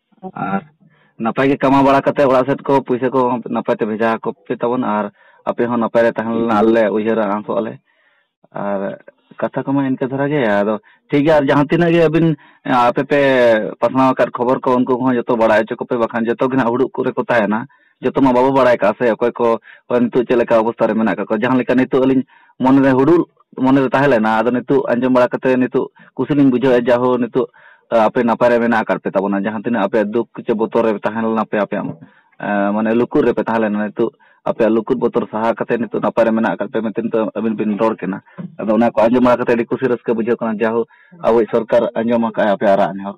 ᱟᱨ ᱱᱟᱯᱟᱭ ᱜᱮ ᱠᱟᱢᱟᱣ ᱵᱟᱲᱟ ᱠᱟᱛᱮ ᱚᱲᱟᱜ ᱥᱮᱫ ᱠᱚ ᱯᱩᱭᱥᱟᱹ ᱠᱚ ᱱᱟᱯᱟᱭ ᱛᱮ ᱵᱷᱮᱡᱟ ᱟᱠᱚ ᱯᱮ ᱛᱟᱵᱚᱱ ᱟᱨ ᱟᱯᱮ ᱦᱚᱸ ᱱᱟᱯᱟᱭ ᱨᱮ ᱛᱟᱦᱮᱸ ᱞᱮᱱᱟ ᱟᱞᱮ ᱩᱭᱦᱟᱹᱨᱟ ᱟᱸᱥᱚᱜ ᱟᱞᱮ ᱟᱨ ᱠᱟᱛᱷᱟ ᱠᱚᱢᱟ ᱤᱱᱠᱟᱹ ᱫᱷᱟᱨᱟ ᱜᱮ ᱟᱫᱚ ᱴᱷᱤᱠ ᱜᱮᱭᱟ ᱟᱨ ᱡᱟᱦᱟᱸ ᱛᱤᱱᱟᱹᱜ ᱜᱮ ᱟᱹᱵᱤᱱ ᱟᱯᱮ ᱯᱮ ᱯᱟᱥᱱᱟᱣ ᱟᱠᱟᱫ ᱠᱷᱚᱵᱚᱨ ᱠᱚ ᱩᱱᱠᱩ ᱠᱚᱦᱚᱸ ᱡᱚᱛᱚ ᱵᱟᱲᱟᱭ ᱦᱚᱪᱚ ᱠᱚᱯᱮ ᱵᱟᱠᱷᱟᱱ ᱡᱚᱛᱚ ᱜᱮ ᱦᱟᱸᱜ ᱦᱩᱲᱩ ᱤᱨ ᱠᱚᱨᱮ ᱠᱚ ᱛᱟᱦᱮᱱᱟ ᱡᱚᱛᱚ ᱢᱟ ᱵᱟᱵᱚ ᱵᱟᱲᱟᱭ ᱠᱟᱜᱼᱟ ᱥᱮ ᱚᱠᱚᱭ ᱠᱚ ᱱᱤᱛᱚᱜ ᱪᱮᱫ ᱞᱮᱠᱟ ᱚᱵᱚᱥᱛᱟ ᱨᱮ ᱢᱮᱱᱟᱜ ᱠᱟᱜ ᱠᱚᱣᱟ ᱡᱟᱦᱟᱸ ᱞᱮᱠᱟ ᱱᱤᱛᱚᱜ ᱟᱹᱞᱤᱧ ᱢᱚᱱᱮᱨᱮ ᱦᱩᱲᱩᱫ ᱢᱚᱱᱮᱨᱮ ᱛᱟᱦᱮᱸ ᱞᱮᱱᱟ ᱟᱫᱚ ᱱᱤᱛᱚᱜ ᱟᱸᱡᱚᱢ ᱵᱟᱲᱟ ᱠᱟᱛᱮ ᱱᱤᱛᱚᱜ ᱠᱩᱥᱤ ᱞᱤᱧ ᱵᱩᱡᱷᱟᱹᱣᱮᱫᱼᱟ ᱡᱟᱦᱳ ᱱᱤᱛᱚᱜ ᱟᱯᱮ ᱱᱟᱯᱟᱭ ᱨᱮ ᱢᱮᱱᱟᱜ ᱟᱠᱟᱫ ᱯᱮ ᱛᱟᱵᱚᱱᱟ ᱡᱟᱦᱟᱸ ᱛᱤᱱᱟᱹᱜ ᱟᱯᱮᱭᱟᱜ ᱫᱩᱠ ᱥᱮ ᱵᱚᱛᱚᱨ ᱨᱮ ᱛᱟᱦᱮᱸ ᱞᱮᱱᱟ ᱯᱮ ᱟᱯᱮᱭᱟᱜ ᱢᱟᱱᱮ ᱞᱩᱠᱩᱨ ᱨᱮᱯᱮ ᱛᱟᱦᱮᱸ ᱞᱮᱱᱟ ᱱᱤᱛᱚᱜ ᱟᱯᱮᱭᱟᱜ ᱞᱩᱠᱩᱨ ᱵᱚᱛᱚᱨ ᱥᱟᱦᱟ ᱠᱟᱛᱮ ᱱᱤᱛᱚᱜ ᱱᱟᱯᱟᱭ ᱨᱮ ᱢᱮᱱᱟᱜ ᱟᱠᱟᱫ ᱯᱮ ᱢᱮᱱᱛᱮ ᱱᱤᱛᱚᱜ ᱟᱹᱵᱤᱱ ᱵᱤᱱ ᱨᱚᱲ ᱠᱟᱱᱟ ᱟᱫᱚ ᱚᱱᱟ ᱠᱚ ᱟᱸᱡᱚᱢ ᱵᱟᱲᱟ ᱠᱟᱛᱮ ᱟᱹᱰᱤ ᱠᱩᱥᱤ ᱨᱟᱹᱥᱠᱟᱹ ᱵᱩᱡᱷᱟᱹᱜ ᱠᱟᱱᱟ ᱡᱟᱦᱳ ᱟᱵᱚᱭᱤᱡ ᱥᱚᱨᱠᱟᱨ ᱟᱸᱡᱚᱢ ᱟᱠᱟᱫᱼᱟᱭ ᱟᱯᱮᱭᱟᱜ ᱨᱟᱜ ᱱᱮᱦᱚᱨ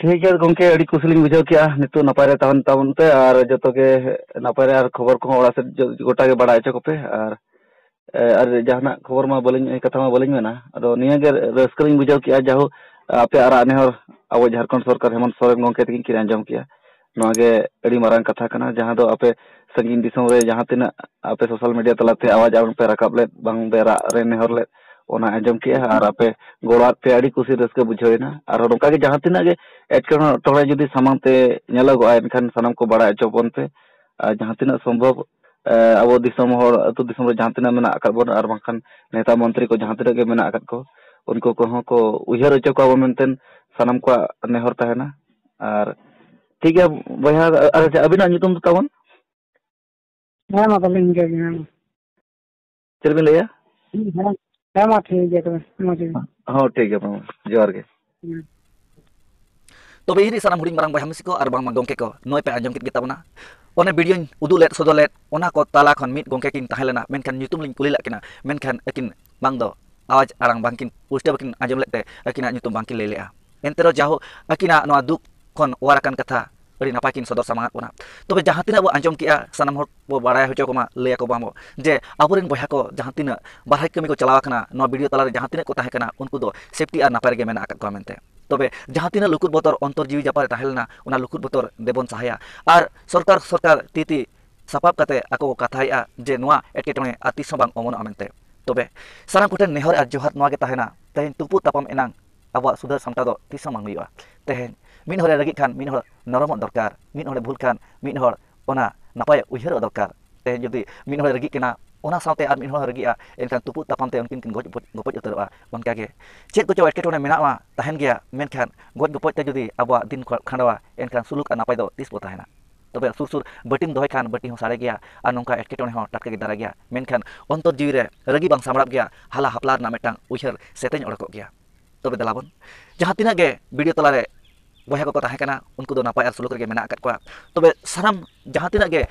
ᱴᱷᱤᱠ ᱜᱮᱭᱟ ᱜᱚᱢᱠᱮ ᱟᱹᱰᱤ ᱠᱩᱥᱤ ᱞᱤᱧ ᱵᱩᱡᱷᱟᱹᱣ ᱠᱮᱫᱼᱟ ᱱᱤᱛᱚᱜ ᱱᱟᱯᱟᱭ ᱨᱮ ᱛᱟᱦᱮᱱ ᱛᱟᱵᱚᱱ ᱯᱮ ᱟᱨ ᱡᱚᱛᱚ ᱜᱮ ᱱᱟᱯᱟᱭ ᱨᱮ ᱟᱨ ᱠᱷᱚᱵᱚᱨ ᱠᱚᱦᱚᱸ ᱚᱲᱟᱜ ᱥᱮᱫ ᱜᱚᱴᱟ ᱜᱮ ᱵᱟᱲᱟᱭ ᱦᱚᱪᱚ ᱠᱚᱯᱮ ᱟᱨ ᱟᱨ ᱡᱟᱦᱟᱱᱟᱜ ᱠᱷᱚᱵᱚᱨ ᱢᱟ ᱵᱟᱹᱞᱤᱧ ᱠᱟᱛᱷᱟ ᱢᱟ ᱵᱟᱹᱞᱤᱧ ᱢᱮᱱᱟ ᱟᱫᱚ ᱱᱤᱭᱟᱹ ᱜᱮ ᱨᱟᱹᱥᱠᱟᱹ ᱞᱤᱧ ᱵᱩᱡᱷᱟᱹᱣ ᱠᱮᱫᱼᱟ ᱡᱟᱭᱦᱳᱠ ᱟᱯᱮᱭᱟᱜ ᱨᱟᱜ ᱱᱮᱦᱚᱨ ᱟᱵᱚ ᱡᱷᱟᱲᱠᱷᱚᱸᱰ ᱥᱚᱨᱠᱟᱨ ᱦᱮᱢᱚᱱᱛᱚ ᱥᱚᱨᱮᱱ ᱜᱚᱢᱠᱮ ᱛᱟᱹᱠᱤᱱ ᱠᱤᱱ ᱟᱸᱡᱚᱢ ᱠᱮᱫᱼᱟ ᱱᱚᱣᱟ ᱜᱮ ᱟᱹᱰᱤ ᱢᱟᱨᱟᱝ ᱠᱟᱛᱷᱟ ᱠᱟᱱᱟ ᱡᱟᱦᱟᱸ ᱫᱚ ᱟᱯᱮ ᱥᱟᱺᱜᱤᱧ ᱫᱤᱥᱚᱢ ᱨᱮ ᱡᱟᱦᱟᱸ ᱛᱤᱱᱟᱹᱜ ᱟᱯᱮ ᱥᱳᱥᱟᱞ ᱢᱤᱰᱤᱭᱟ ᱛᱟᱞᱟᱛᱮ ᱟᱣᱟᱡᱽ ᱟᱲᱟᱝ ᱯᱮ ᱨᱟᱠᱟᱵ ᱞᱮᱫ ᱵᱟᱝ ᱯᱮ ᱨᱟᱜ ᱨᱮ ᱱᱮᱦᱚᱨ ᱞᱮᱫ ᱚᱱᱟ ᱟᱸᱡᱚᱢ ᱠᱮᱜᱼᱟ ᱟᱨ ᱟᱯᱮ ᱜᱚᱲᱚᱣᱟᱫ ᱯᱮᱭᱟ ᱟᱹᱰᱤ ᱠᱩᱥᱤ ᱨᱟᱹᱥᱠᱟᱹ ᱵᱩᱡᱷᱟᱹᱣᱮᱱᱟ ᱟᱨ ᱱᱚᱝᱠᱟ ᱜᱮ ᱡᱟᱦᱟᱸ ᱛᱤᱱᱟᱹᱜ ᱜᱮ ᱮᱴᱠᱮᱴᱚᱬᱮ ᱡᱩᱫᱤ ᱥᱟᱢᱟᱝ ᱛᱮ ᱧᱮᱞᱚᱜᱚᱜᱼᱟ ᱮᱱᱠᱷᱟᱱ ᱥᱟᱱᱟᱢ ᱠᱚ ᱵᱟᱲᱟᱭ ᱦᱚᱪᱚ ᱵᱚᱱ ᱯᱮ ᱟᱨ ᱡᱟᱦᱟᱸ ᱛᱤᱱᱟᱹᱜ ᱥᱚᱢᱵᱷᱚᱵ ᱟᱵᱚ ᱫᱤᱥᱚᱢ ᱦᱚᱲ ᱟᱹᱛᱩ ᱫᱤᱥᱚᱢ ᱨᱮ ᱡᱟᱦᱟᱸ ᱛᱤᱱᱟᱹᱜ ᱢᱮᱱᱟᱜ ᱟᱠᱟᱫ ᱵᱚᱱᱟ ᱟᱨ ᱵᱟᱝᱠᱷᱟᱱ ᱱᱮᱛᱟ ᱢᱚᱱᱛᱨᱤ ᱠᱚ ᱡᱟᱦᱟᱸ ᱛᱤᱱᱟᱹᱜ ᱜᱮ ᱢᱮᱱᱟᱜ ᱟᱠᱟᱫ ᱠᱚ ᱩᱱᱠᱩ ᱠᱚᱦᱚᱸ ᱠᱚ ᱩᱭᱦᱟᱹᱨ ᱦᱚᱪᱚ ᱠᱚᱣᱟ ᱵᱚᱱ ᱢᱮᱱᱛᱮ ᱥᱟᱱᱟᱢ ᱠᱚᱣᱟᱜ ᱱᱮᱦᱚᱨ ᱛᱟᱦᱮᱱᱟ ᱟᱨ ᱴᱷᱤᱠ ᱜᱮᱭᱟ ᱵᱚᱭᱦᱟ ᱟᱪᱪᱷᱟ ᱟᱹᱵᱤᱱᱟᱜ ᱧᱩᱛᱩᱢ ᱫᱚ ᱛᱟᱵᱚᱱ ᱦᱮᱸ ᱢᱟ ᱛᱟᱦᱚᱞᱮ ᱤᱱᱠᱟᱹ ᱜᱮ ᱦᱮᱸ ᱪᱮᱫ ᱵᱤᱱ ᱞᱟᱹᱭᱟ ᱦᱮᱸ ᱢᱟ ᱴᱷᱤᱠ ᱜᱮᱭᱟ ᱛᱚᱵᱮ ᱢᱚᱡᱽ ᱜᱮ ᱦᱚᱸ ᱴᱷᱤᱠ ᱜᱮᱭᱟ ᱢᱟ ᱡᱚᱦᱟᱨ ᱜᱮ ᱛᱚᱵᱮ ᱤᱧ ᱥᱟᱱᱟᱢ ᱦᱩᱰᱤᱧ ᱢᱟᱨᱟᱝ ᱵᱚᱭᱦᱟ ᱢᱤᱥᱤ ᱠᱚ ᱟᱨ ᱵᱟᱝᱢᱟ ᱜᱚᱢᱠᱮ ᱠᱚ ᱱᱚᱜᱼᱚᱭ ᱯᱮ ᱟᱸᱡᱚᱢ ᱠᱮᱫ ᱜᱮ ᱛᱟᱵᱚᱱᱟ ᱚᱱᱮ ᱵᱷᱤᱰᱤᱭᱳᱧ ᱩᱫᱩᱜ ᱞᱮᱫ ᱥᱚᱫᱚᱨ ᱞᱮᱫ ᱚᱱᱟ ᱠᱚ ᱛᱟᱞᱟ ᱠᱷᱚᱱ ᱢᱤᱫ ᱜᱚᱢᱠᱮ ᱠᱤᱱ ᱛᱟᱦᱮᱸ ᱞᱮᱱᱟ ᱢᱮᱱᱠᱷᱟᱱ ᱧᱩᱛᱩᱢ ᱞᱤᱧ ᱠᱩᱞᱤ ᱞᱮᱫ ᱠᱤᱱᱟ ᱢᱮᱱᱠᱷᱟᱱ ᱟᱹᱠᱤᱱ ᱵᱟᱝ ᱫᱚ ᱟᱣᱟᱡᱽ ᱟᱲᱟᱝ ᱵᱟᱝ ᱠᱤᱱ ᱯᱩᱥᱴᱟᱹᱣ ᱵᱟᱠᱤᱱ ᱟᱸᱡᱚᱢ ᱞᱮᱫ ᱛᱮ ᱟᱹᱠᱤᱱᱟᱜ ᱧᱩᱛᱩᱢ ᱵᱟᱝ ᱠᱤᱱ ᱞᱟᱹᱭ ᱞᱮᱫᱼᱟ ᱮᱱᱛᱮ ᱨᱮᱦᱚᱸ ᱡᱟᱭᱦᱳᱠ ᱟᱹᱠᱤᱱᱟᱜ ᱱᱚᱣᱟ ᱫᱩᱠ ᱠᱷᱚᱱ ᱚᱣᱟᱨ ᱟᱠᱟᱱ ᱠᱟᱛᱷᱟ ᱟᱹᱰᱤ ᱱᱟᱯᱟᱭ ᱠᱤᱱ ᱥᱚᱫᱚᱨ ᱥᱟᱢᱟᱝ ᱟᱫ ᱵᱚᱱᱟ ᱛᱚᱵᱮ ᱡᱟᱦᱟᱸ ᱛᱤᱱᱟᱹᱜ ᱵᱚᱱ ᱟᱸᱡᱚᱢ ᱠᱮᱫᱼᱟ ᱥᱟᱱᱟᱢ ᱦᱚᱲ ᱵᱚᱱ ᱵᱟᱲᱟᱭ ᱦᱚᱪᱚ ᱠᱚᱢᱟ ᱞᱟᱹᱭ ᱟᱠᱚ ᱢᱟᱵᱚᱱ ᱡᱮ ᱟᱵᱚ ᱨᱮᱱ ᱵᱚᱭᱦᱟ ᱠᱚ ᱡᱟᱦᱟᱸ ᱛᱤᱱᱟᱹᱜ ᱵᱟᱨᱦᱮ ᱠᱟᱹᱢᱤ ᱠᱚ ᱪᱟᱞᱟᱣ ᱟᱠᱟᱱᱟ ᱱᱚᱣᱟ ᱵᱷᱤᱰᱤᱭᱳ ᱛᱟᱞᱟ ᱨᱮ ᱡᱟᱦᱟᱸ ᱛᱤᱱᱟᱹᱜ ᱠᱚ ᱛᱟᱦᱮᱸ ᱠᱟᱱᱟ ᱩᱱᱠᱩ ᱫᱚ ᱥᱮᱯᱷᱴᱤ ᱟᱨ ᱱᱟᱯᱟᱭ ᱨᱮᱜᱮ ᱢᱮᱱᱟᱜ ᱟᱠᱟᱫ ᱠᱚᱣᱟ ᱢᱮᱱᱛᱮ ᱛᱚᱵᱮ ᱡᱟᱦᱟᱸ ᱛᱤᱱᱟᱹᱜ ᱞᱩᱠᱩᱫ ᱵᱚᱛᱚᱨ ᱚᱱᱛᱚᱨ ᱡᱤᱣᱤ ᱡᱟᱯᱟᱜ ᱨᱮ ᱛᱟᱦᱮᱸ ᱞᱮᱱᱟ ᱚᱱᱟ ᱞᱩᱠᱩᱫ ᱵᱚᱛᱚᱨ ᱫᱮᱵᱚᱱ ᱥᱟᱦᱟᱭᱟ ᱟᱨ ᱥᱚᱨᱠᱟᱨ ᱥᱚᱨᱠᱟᱨ ᱛᱤ ᱛᱤ ᱥᱟᱯᱟᱵ ᱠᱟᱛᱮ ᱟᱠᱚ ᱠᱚ ᱠᱟᱛᱷᱟᱭᱮᱫᱼᱟ ᱡᱮ ᱱᱚᱣᱟ ᱮᱴᱠᱮᱴᱚᱬᱮ ᱟᱨ ᱛᱤᱥ ᱦᱚᱸ ᱵᱟᱝ ᱚᱢᱚᱱᱚᱜᱼᱟ ᱢᱮᱱᱛᱮ ᱛᱚᱵᱮ ᱥᱟᱱᱟᱢ ᱠᱚᱴᱷᱮᱱ ᱱᱮᱦᱚᱨ ᱟᱨ ᱡᱚᱦᱟᱨ ᱱᱚᱣᱟ ᱜᱮ ᱛᱟᱦᱮᱱᱟ ᱛᱮᱦᱮᱧ ᱛᱩᱯᱩᱫ ᱛᱟᱯᱟᱢ ᱮᱱᱟᱝ ᱟᱵᱚᱣᱟᱜ ᱥᱩᱫᱷᱟᱹᱨ ᱥᱟᱢᱴᱟᱣ ᱫᱚ ᱛᱤᱥ ᱦᱚᱸ ᱵᱟᱝ ᱦᱩᱭᱩᱜᱼᱟ ᱛᱮᱦᱮᱧ ᱢᱤᱫ ᱦᱚᱲᱮ ᱨᱟᱹᱜᱤᱜ ᱠᱷᱟᱱ ᱢᱤᱫ ᱦᱚᱲ ᱱᱚᱨᱚᱢᱚᱜ ᱫᱚᱨᱠᱟᱨ ᱢᱤᱫ ᱦᱚᱲᱮ ᱵᱷᱩᱞ ᱠᱷᱟᱱ ᱢᱤᱫ ᱦᱚᱲ ᱚᱱᱟ ᱱᱟᱯᱟᱭ ᱩᱭᱦᱟᱹᱨᱚᱜ ᱫᱚᱨᱠᱟᱨ ᱛᱮᱦᱮᱧ ᱡᱩᱫᱤ ᱢᱤᱫ ᱦᱚᱲᱮ ᱨᱟᱹᱜᱤᱜ ᱠᱟᱱᱟ ᱚᱱᱟ ᱥᱟᱶᱛᱮ ᱟᱨ ᱢᱤᱫ ᱦᱚᱲ ᱦᱚᱸ ᱨᱟᱹᱜᱤᱜᱼᱟ ᱮᱱᱠᱷᱟᱱ ᱛᱩᱯᱩᱫ ᱛᱟᱯᱟᱢ ᱛᱮ ᱩᱱᱠᱤᱱ ᱠᱤᱱ ᱜᱚᱡ ᱜᱚᱯᱚᱡ ᱩᱛᱟᱹᱨᱚᱜᱼᱟ ᱚᱱᱠᱟ ᱜᱮ ᱪᱮᱫ ᱠᱚᱪᱚ ᱮᱴᱠᱮᱴᱚᱬᱮ ᱢᱮᱱᱟᱜᱼᱟ ᱛᱟᱦᱮᱱ ᱜᱮᱭᱟ ᱢᱮᱱᱠᱷᱟᱱ ᱜᱚᱡ ᱜᱚᱯᱚᱡ ᱛᱮ ᱡᱩᱫᱤ ᱟᱵᱚᱣᱟᱜ ᱫᱤᱱ ᱠᱷᱟᱸᱰᱟᱣᱟ ᱮᱱᱠᱷᱟᱱ ᱥᱩᱞᱩᱠ ᱟᱨ ᱱᱟᱯᱟᱭ ᱫᱚ ᱛᱤᱥ ᱵᱚ ᱛᱟᱦᱮᱱᱟ ᱛᱚᱵᱮ ᱥᱩᱨ ᱥᱩᱨ ᱵᱟᱹᱴᱤᱢ ᱫᱚᱦᱚᱭ ᱠᱷᱟᱱ ᱵᱟᱹᱴᱤ ᱦᱚᱸ ᱥᱟᱲᱮ ᱜᱮᱭᱟ ᱟᱨ ᱱᱚᱝᱠᱟ ᱮᱴᱠᱮᱴᱚᱬᱮ ᱦᱚᱸ ᱴᱟᱴᱠᱟ ᱜᱮ ᱫᱟᱨᱟᱭ ᱜᱮᱭᱟ ᱢᱮᱱᱠᱷᱟᱱ ᱚᱱᱛᱚᱨ ᱡᱤᱣᱤ ᱨᱮ ᱨᱟᱹᱜᱤ ᱵᱟᱝ ᱥᱟᱢᱵᱽᱲᱟᱜ ᱜᱮᱭᱟ ᱦᱟᱞᱟ ᱦᱟᱯᱞᱟ ᱨᱮᱱᱟᱜ ᱢᱤᱫᱴᱟᱝ ᱩᱭᱦᱟᱹᱨ ᱥᱮᱛᱮᱧ ᱚᱰᱚᱠᱚᱜ ᱜᱮᱭᱟ ᱛᱚᱵᱮ ᱫᱮᱞᱟ ᱵᱚᱱ ᱡᱟᱦᱟᱸ ᱛᱤᱱᱟᱹᱜ ᱜᱮ ᱵᱷᱤᱰᱤᱭᱳ ᱛᱟᱞᱟ ᱨᱮ ᱵᱚᱭᱦᱟ ᱠᱚᱠᱚ ᱛᱟᱦᱮᱸ ᱠᱟᱱᱟ ᱩᱱᱠᱩ ᱫᱚ ᱱᱟᱯᱟᱭ ᱟᱨ ᱥᱩᱞᱩᱠ ᱨᱮᱜᱮ ᱢᱮᱱᱟᱜ ᱟᱠᱟᱫ ᱠᱚᱣᱟ ᱛᱚᱵᱮ ᱥᱟᱱᱟᱢ ᱡᱟᱦᱟᱸ ᱛᱤᱱᱟᱹᱜ ᱜᱮ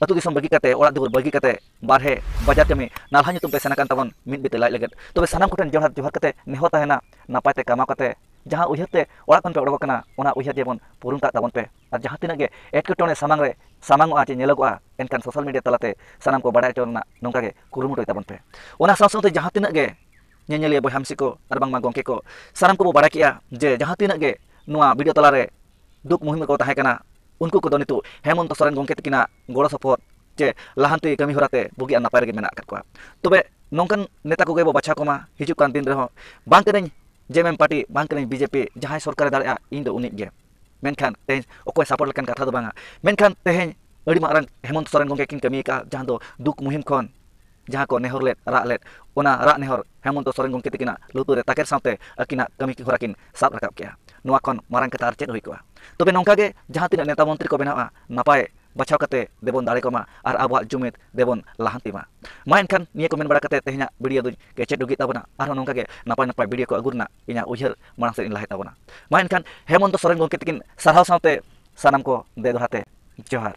ᱟᱹᱛᱩ ᱫᱤᱥᱚᱢ ᱵᱟᱹᱜᱤ ᱠᱟᱛᱮ ᱚᱲᱟᱜ ᱫᱩᱣᱟᱹᱨ ᱵᱟᱹᱜᱤ ᱠᱟᱛᱮ ᱵᱟᱨᱦᱮ ᱵᱟᱡᱟᱨ ᱠᱟᱹᱢᱤ ᱱᱟᱞᱦᱟ ᱧᱩᱛᱩᱢ ᱛᱮ ᱥᱮᱱ ᱟᱠᱟᱱ ᱛᱟᱵᱚᱱ ᱢᱤᱫ ᱵᱤᱛᱟᱹ ᱞᱟᱡ ᱞᱟᱹᱜᱤᱫ ᱛᱚᱵᱮ ᱥᱟᱱᱟᱢ ᱠᱚᱴᱷᱮᱱ ᱡᱚᱦᱟᱨ ᱡᱚᱦᱟᱨ ᱠᱟᱛᱮ ᱱᱮᱦᱚᱨ ᱛᱟᱦᱮᱱᱟ ᱱᱟᱯᱟᱭ ᱛᱮ ᱠᱟᱢᱟᱣ ᱠᱟᱛᱮ ᱡᱟᱦᱟᱸ ᱩᱭᱦᱟᱹᱨ ᱛᱮ ᱚᱲᱟᱜ ᱠᱷᱚᱱ ᱯᱮ ᱚᱰᱚᱠ ᱟᱠᱟᱱᱟ ᱚᱱᱟ ᱩᱭᱦᱟᱹᱨ ᱡᱮᱢᱚᱱ ᱯᱩᱨᱩᱱ ᱠᱟᱜ ᱛᱟᱵᱚᱱ ᱯᱮ ᱟᱨ ᱡᱟᱦᱟᱸ ᱛᱤᱱᱟᱹᱜ ᱜᱮ ᱮᱴᱠᱮᱴᱚᱬᱮ ᱥᱟᱢᱟᱝ ᱨᱮ ᱥᱟᱢᱟᱝᱚᱜᱼᱟ ᱪᱮ ᱧᱮᱞᱚᱜᱚᱜᱼᱟ ᱮᱱᱠᱷᱟᱱ ᱥᱳᱥᱟᱞ ᱢᱤᱰᱤᱭᱟ ᱛᱟᱞᱟᱛᱮ ᱥᱟᱱᱟᱢ ᱠᱚ ᱵᱟᱰᱟᱭ ᱦᱚᱪᱚ ᱨᱮᱱᱟᱜ ᱱᱚᱝᱠᱟ ᱜᱮ ᱠᱩᱨᱩᱢᱩᱴᱩᱭ ᱛᱟᱵᱚᱱ ᱯᱮ ᱚᱱᱟ ᱥᱟᱶ ᱥᱟᱶᱛᱮ ᱡᱟᱦᱟᱸ ᱛᱤᱱᱟᱹᱜ ᱜᱮ ᱧᱮᱧᱮᱞᱤᱭᱟᱹ ᱵᱚᱭᱦᱟ ᱢᱤᱥᱤ ᱠᱚ ᱟᱨ ᱵᱟᱝᱢᱟ ᱜᱚᱢᱠᱮ ᱠᱚ ᱥᱟᱱᱟᱢ ᱠᱚᱵᱚ ᱵᱟᱰᱟᱭ ᱠᱮᱜᱼᱟ ᱡᱮ ᱡᱟᱦᱟᱸ ᱛᱤᱱᱟᱹᱜ ᱜᱮ ᱱᱚᱣᱟ ᱵᱷᱤᱰᱤᱭᱳ ᱛᱟᱞᱟᱨᱮ ᱫᱩᱠ ᱢᱩᱦᱤᱢ ᱠᱚ ᱛᱟᱦᱮᱸ ᱠᱟᱱᱟ ᱩᱱᱠᱩ ᱠᱚᱫᱚ ᱱᱤᱛᱚᱜ ᱦᱮᱢᱚᱱᱛᱚ ᱥᱚᱨᱮᱱ ᱜᱚᱢᱠᱮ ᱛᱟᱹᱠᱤᱱᱟᱜ ᱜᱚᱲᱚ ᱥᱚᱯᱚᱦᱚᱫ ᱪᱮ ᱞᱟᱦᱟᱱᱛᱤ ᱠᱟᱹᱢᱤ ᱦᱚᱨᱟ ᱛᱮ ᱵᱩᱜᱤ ᱟᱨ ᱱᱟᱯᱟᱭ ᱨᱮᱜᱮ ᱢᱮᱱᱟᱜ ᱟᱠᱟᱫ ᱠᱚᱣᱟ ᱛᱚᱵᱮ ᱱᱚᱝᱠᱟᱱ ᱱᱮᱛᱟ ᱠᱚᱜᱮ ᱵᱚ ᱵᱟᱪᱷᱟᱣ ᱠᱚᱢᱟ ᱦᱤᱡᱩᱜ ᱠᱟᱱ ᱫᱤᱱ ᱨᱮᱦᱚᱸ ᱵᱟᱝ ᱠᱟᱹᱱᱟᱹᱧ ᱡᱮᱢᱮᱢ ᱯᱟᱨᱴᱤ ᱵᱟᱝ ᱠᱟᱹᱱᱟᱹᱧ ᱵᱤᱡᱮᱯᱤ ᱡᱟᱦᱟᱸᱭ ᱥᱚᱨᱠᱟᱨᱮ ᱫᱟᱲᱮᱭᱟᱜᱼᱟ ᱤᱧ ᱫᱚ ᱩᱱᱤᱜᱮ ᱢᱮᱱᱠᱷᱟᱱ ᱛᱮᱦᱮᱧ ᱚᱠᱚᱭ ᱥᱟᱯᱚᱨᱴ ᱞᱮᱠᱟᱱ ᱠᱟᱛᱷᱟ ᱫᱚ ᱵᱟᱝᱟ ᱢᱮᱱᱠᱷᱟᱱ ᱛᱮᱦᱮᱧ ᱟᱹᱰᱤ ᱢᱟᱨᱟᱝ ᱦᱮᱢᱚᱱᱛ ᱥᱚᱨᱮᱱ ᱜᱚᱢᱠᱮ ᱠᱤᱱ ᱠᱟᱹᱢᱤ ᱟᱠᱟᱫᱼᱟ ᱡᱟᱦᱟᱸ ᱫᱚ ᱫᱩᱠ ᱢᱩᱦᱤᱢ ᱠᱷᱚᱱ ᱡᱟᱦᱟᱸ ᱠᱚ ᱱᱮᱦᱚᱨ ᱞᱮᱫ ᱨᱟᱜ ᱞᱮᱫ ᱚᱱᱟ ᱨᱟᱜ ᱱᱮᱦᱚᱨ ᱦᱮᱢᱚᱱᱛ ᱥᱚᱨᱮᱱ ᱜᱚᱢᱠᱮ ᱛᱟᱹᱠᱤᱱᱟᱜ ᱞᱩᱛᱩᱨ ᱨᱮ ᱛᱟᱠᱮᱨ ᱥᱟᱶᱛᱮ ᱟᱹᱠᱤᱱᱟᱜ ᱠᱟᱹᱢᱤ ᱦᱚᱨᱟ ᱠᱤᱱ ᱥᱟᱵ ᱨᱟᱠᱟᱵ ᱠᱮᱫᱼᱟ ᱱᱚᱣᱟ ᱠᱷᱚᱱ ᱢᱟᱨᱟᱝ ᱠᱟᱛᱷᱟ ᱟᱨ ᱪᱮᱫ ᱦᱩᱭ ᱠᱚᱜᱼᱟ ᱛᱚᱵᱮ ᱱᱚᱝᱠᱟ ᱜᱮ ᱡᱟᱦᱟᱸ ᱛᱤᱱᱟᱹᱜ ᱱᱮᱛᱟ ᱢᱚᱱᱛᱨᱤ ᱠᱚ ᱵᱮᱱᱟᱜᱼᱟ ᱱᱟᱯᱟᱭ ᱵᱟᱪᱷᱟᱣ ᱠᱟᱛᱮ ᱫᱮᱵᱚᱱ ᱫᱟᱲᱮ ᱠᱚᱢᱟ ᱟᱨ ᱟᱵᱚᱣᱟᱜ ᱡᱩᱢᱤᱫ ᱫᱮᱵᱚᱱ ᱞᱟᱦᱟᱱᱛᱤ ᱢᱟ ᱢᱟ ᱮᱱᱠᱷᱟᱱ ᱱᱤᱭᱟᱹ ᱠᱚ ᱢᱮᱱ ᱵᱟᱲᱟ ᱠᱟᱛᱮ ᱛᱮᱦᱮᱧᱟᱜ ᱵᱷᱤᱰᱤᱭᱳ ᱫᱚᱧ ᱠᱮᱪᱮᱫ ᱰᱩᱜᱤ ᱛᱟᱵᱚᱱᱟ ᱟᱨᱦᱚᱸ ᱱᱚᱝᱠᱟ ᱜᱮ ᱱᱟᱯᱟᱭ ᱱᱟᱯᱟᱭ ᱵᱷᱤᱰᱤᱭᱳ ᱠᱚ ᱟᱹᱜᱩ ᱨᱮᱱᱟᱜ ᱤᱧᱟᱹᱜ ᱩᱭᱦᱟᱹᱨ ᱢᱟᱲᱟᱝ ᱥᱮᱫ ᱤᱧ ᱞᱟᱦᱟᱭ ᱛᱟᱵᱚᱱᱟ ᱢᱟ ᱮᱱᱠᱷᱟᱱ ᱦᱮᱢᱚᱱᱛᱚ ᱥᱚᱨᱮᱱ ᱜᱚᱢᱠᱮ ᱛᱟᱹᱠᱤᱱ ᱥᱟᱨᱦᱟᱣ ᱥᱟᱶᱛᱮ ᱥᱟᱱᱟᱢ ᱠᱚ ᱫᱮ ᱫᱚᱦᱲᱟ ᱛᱮ ᱡᱚᱦᱟᱨ